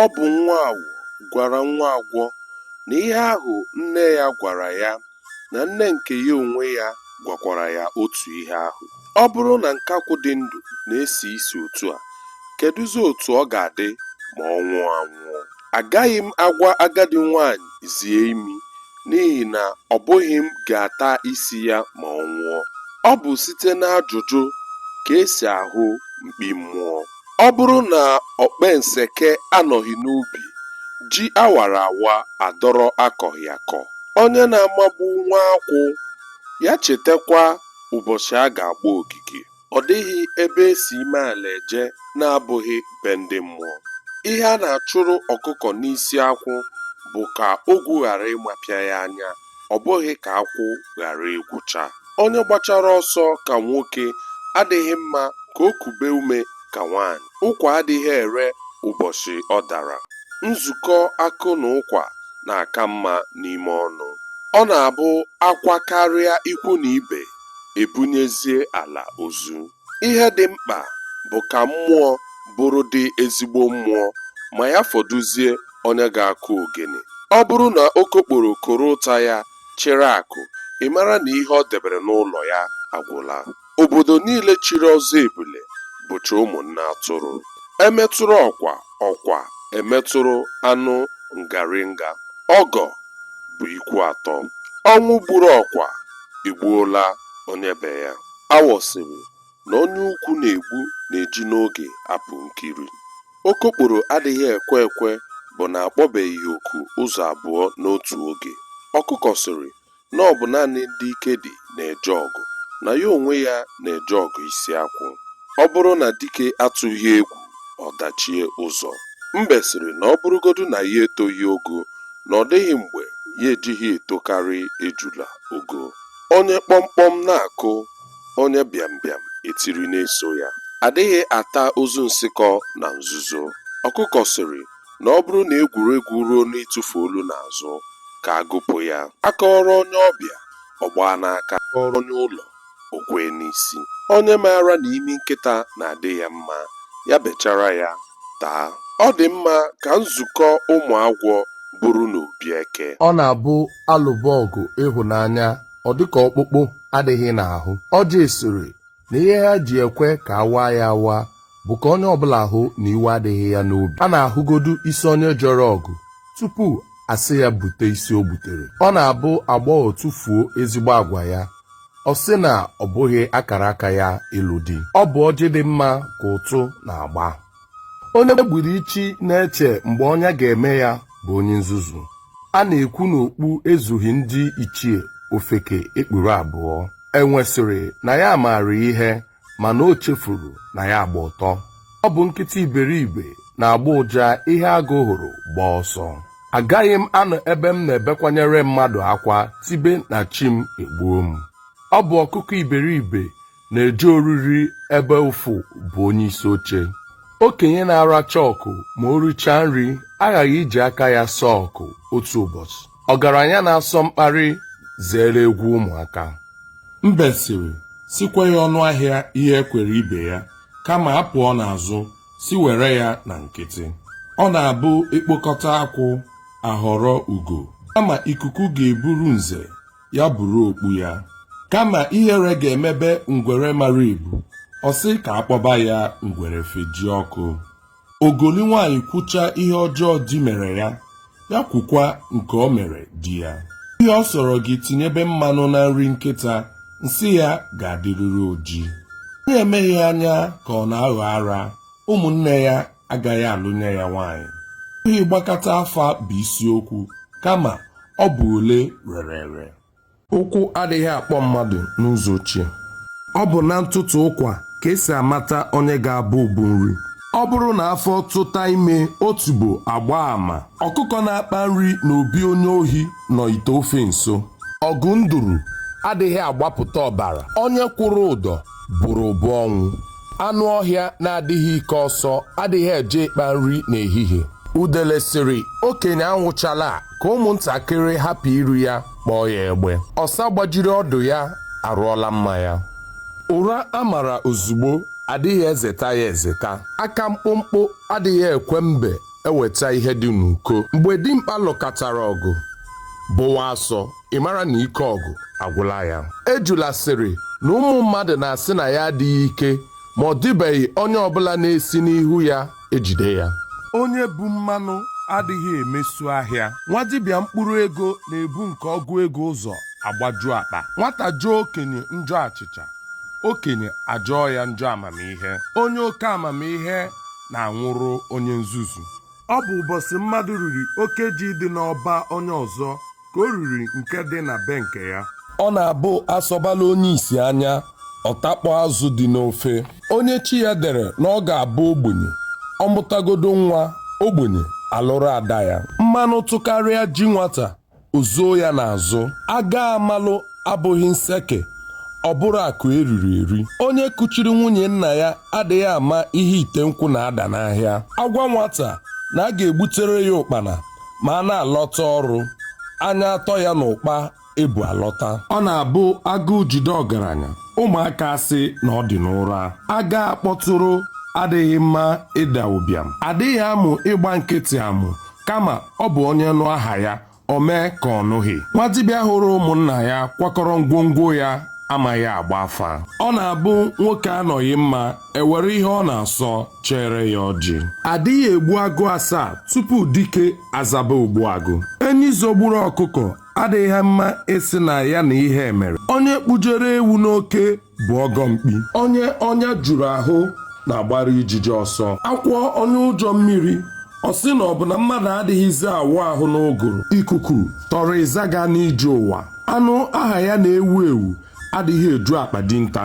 Ọ bụ nwa awọ gwara nwa agwọ na ihe ahụ nne ya gwara ya na nne nke ya onwe ya gwakwara ya otu ihe ahụ. Ọ bụrụ na nkakwụ dị ndụ na-esi isi otu a, kedụzi otu ọ ga-adị ma ọ nwụọ anwụọ? Agaghị m agwa agadi nwaanyị zie imi n'ihi na ọ bụghị m ga-ata isi ya ma ọ nwụọ. Ọ bụ site n'ajụjụ ka e si ahụ mkpi mmụọ. Ọ bụrụ na okpenseke anọghị n'ubi, ji a wara awa adọrọ akọghị akọ. Onye na-amagbu nwa akwụ, ya chetakwa ụbọchị a ga-agba ogige. Ọ dịghị ebe e si ime ala eje na-abụghị be ndị mmụọ. Ihe a na-achụrụ ọkụkọ n'isi akwụ bụ ka ogwu ghara ịmapịa ya anya. ọ bụghị ka akwụ ghara ịgwụcha onye gbachara ọsọ ka nwoke adịghị mma ka o kube ume ka nwaanyị ụkwa adịghị ere ụbọchị ọ dara nzukọ akụ na ụkwa na-aka mma n'ime ọnụ ọ na-abụ akwa karịa ikwu na ibe e bunyezie ala ozu ihe dị mkpa bụ ka mmụọ bụrụdị ezigbo mmụọ ma ya fọdụzie onye ga-akụ ogene ọ bụrụ na okokporo koro ụta ya chịrị akụ ị mara na ihe o debere n'ụlọ ya agwụla obodo niile chiri ọzọ ebule bụcha ụmụ nne atụrụ e metụrụ ọkwa ọkwa emetụrụ anụ ngaringa ọgọ bụ ikwu atọ ọnwụ gburu ọkwa egbuola onye be ya Awọ sịrị na onye ukwu na-egbu na-eji n'oge apụ nkiri. Okokporo adịghị ekwe ekwe bụ na a kpọbeghị oku ụzọ abụọ n'otu oge. Ọkụkọ sịrị na ọ bụ naanị ndị ike dị na-eje ọgụ, na ya onwe ya na-eje ọgụ isi akwụ. Ọ bụrụ na dike atụghị egwu, ọ dachie ụzọ. Mbe sịrị na ọ bụrụgodu na ya etoghị ogo, na ọ dịghị mgbe ya ejighị etokarị ejula ogo. Onye kpọmkpọm na-akụ, onye bịambịam etiri na-eso ya. A dịghị ata ozu nsịkọ na nzuzo. Ọkụkọ sịrị na ọ bụrụ na egwuregwu ruo n'ịtụfu olu n'azụ, ka a gụpụ ya. A kọọrọ onye ọbịa, ọ gbaa n'aka, a kọọrọ onye ụlọ, o kwee n'isi. Onye maara na imi nkịta na-adị ya mma, ya bechara ya. taa. Ọ dị mma ka nzukọ ụmụ agwọ bụrụ n'obi eke. Ọ na-abụ a lụba ọgụ ịhụnanya, ọ dị ka ọkpụkpụ adịghị n'ahụ. Ọjị sịrị na ihe ha ji ekwe ka a waa ya awa bụ ka onye ọbụla hụ na iwe adịghị ya n'obi. A na-ahụgodu isi onye jere ọgụ tupu a sị ya bute isi o gbutere. Ọ na-abụ agbọghọ tụfuo ezigbo agwa ya, ọ sị na ọ bụghị akara aka ya ịlụ di ọ bụ ọjị dị mma ka ụtụ na-agba onye gburu ichi na-eche mgbe ọnya ga-eme ya bụ onye nzuzu a na-ekwu na okpu ezughị ndị ichie ofeke ekpuru abụọ enwe sịrị na ya maara ihe mana o chefuru na ya gba ọtọ ọ bụ nkịta iberibe na-agba ụja ihe agụ hụrụ gbaa ọsọ agaghị m anọ ebe m na-ebekwanyere mmadụ akwa tibe na chi m egbuo m ọ bụ ọkụkọ iberibe na-eje oriri ebe ufu bụ onye isi oche okenye na-aracha ọkụ ma o richaa nri aghaghị iji aka ya saa ọkụ otu ụbọchị ọgaranya na-asọ mkparị zere egwu ụmụaka mbe sịrị sị kwee ya ọnụ ahịa ihe e kwere ibe ya kama a pụọ n'azụ sị were ya na nkịtị ọ na-abụ e kpokọta akwụ a họrọ ugo kama ikuku ga-eburu nze ya buru okpu ya kama ihere ga-emebe ngwere mara ibu ọ sị ka a kpọba ya ngwere feji ọkụ ogoli nwaanyị kwucha ihe ọjọọ di mere ya ya kwukwa nke o mere di ya ihe ọ sọrọ gị tinyebe mmanụ na nri nkịta nsị ya ga-adịrịrị oji onye emeghị anya ka ọ na-aghọ ara ụmụnne ya agaghị alụnye ya nwaanyị ọ bụghị ịgbakata afa bụ isiokwu kama ọ bụ ole rere ere ụkwụ adịghị akpọ mmadụ n'ụzọ ochie ọ bụ na ntụtụ ụkwa ka e si amata onye ga-abụ ubu nri ọ bụrụ na afọ tụta ime otubo agba ama ọkụkọ na-akpa nri na obi onye ohi nọ ite ofe nso ọgụ nduru adịghị agbapụta ọbara onye kwụrụ ụdọ bụrụ ụbụ ọnwụ anụ ọhịa na-adịghị ike ọsọ adịghị eje ịkpa nri n'ehihie udele sịrị okenye anwụchala a, ka ụmụntakịrị hapụ iri ya kpọọ ya egbe ọsa gbajiri ọdụ ya arụọla mma ya ụra a mara ozugbo adịghị ezeta ya ezeta aka mkpụmkpụ adịghị ekwe mbe eweta ihe dị n'uko mgbe dimkpa lụkatara ọgụ bụwa asọ ị mara na ike ọgụ agwụla ya ejula sịrị na ụmụ mmadụ na-asị na ya adịghị ike ma ọ dịbeghị onye ọbụla na-esi n'ihu ya ejide ya onye bu mmanụ adịghị emesu ahịa nwa dibịa mkpụrụ ego na-ebu nke ọgụ ego ụzọ agbaju akpa nwata jọọ okenye njọ achịcha okenye ajọọ ya njọ amamihe onye oke amamihe na-anwụrụ onye nzuzu ọ bụ ụbọchị mmadụ riri oke ji dị n'ọba onye ọzọ ka o riri nke dị na be nke ya ọ na-abụ asọbala onye isi anya ọ takpọ azụ dị n'ofe onye chi ya dere na ọ ga-abụ ogbenye ọ mụtagodo nwa ogbenye alụrụ ada ya mmanụ tụkarịa ji nwata o zuo ya n'azụ aga amalụ abụghị nseke ọ bụrụ akụ eriri eri onye kuchiri nwunye nna ya adịghị ama ihe ite nkwụ na-ada n'ahịa agwa nwata na a ga-egbutere ya ụkpana ma a na-alọta ọrụ anya atọ ya n'ụkpa ebu alọta ọ na-abụ agụụ jide ọgaranya ụmụaka asị na ọ dị n'ụra aga akpọtụrụ adịghị mma ịda ụbịam adịghị amụ ịgba nkịtị amụ kama ọ bụ onye nụ aha ya o mee ka ọ nụghị nwa dibịa hụrụ ụmụnna ya kwakọrọ ngwongwo ya amaghị agba afa ọ na-abụ nwoke anọghị mma e were ihe ọ na-asọ chere ya ọjị adịghị egbu agụ asaa tupu dike azaba ogbu agụ enyi zogburu ọkụkọ adịghị mma ịsị na ya na ihe mere onye kpụjere ewu n'oke bụ ọgọ mkpi onye ọnya juru ahụ na-agbara ijiji ọsọ akwọ onye ụjọ mmiri ọ sị na ọ bụ na mmadụ adịghịzi awụ ahụ n'ụgụrụ ikuku tọrọ ịzaga n'ije ụwa anụ aha ya na-ewu ewu adịghị eju akpa dinta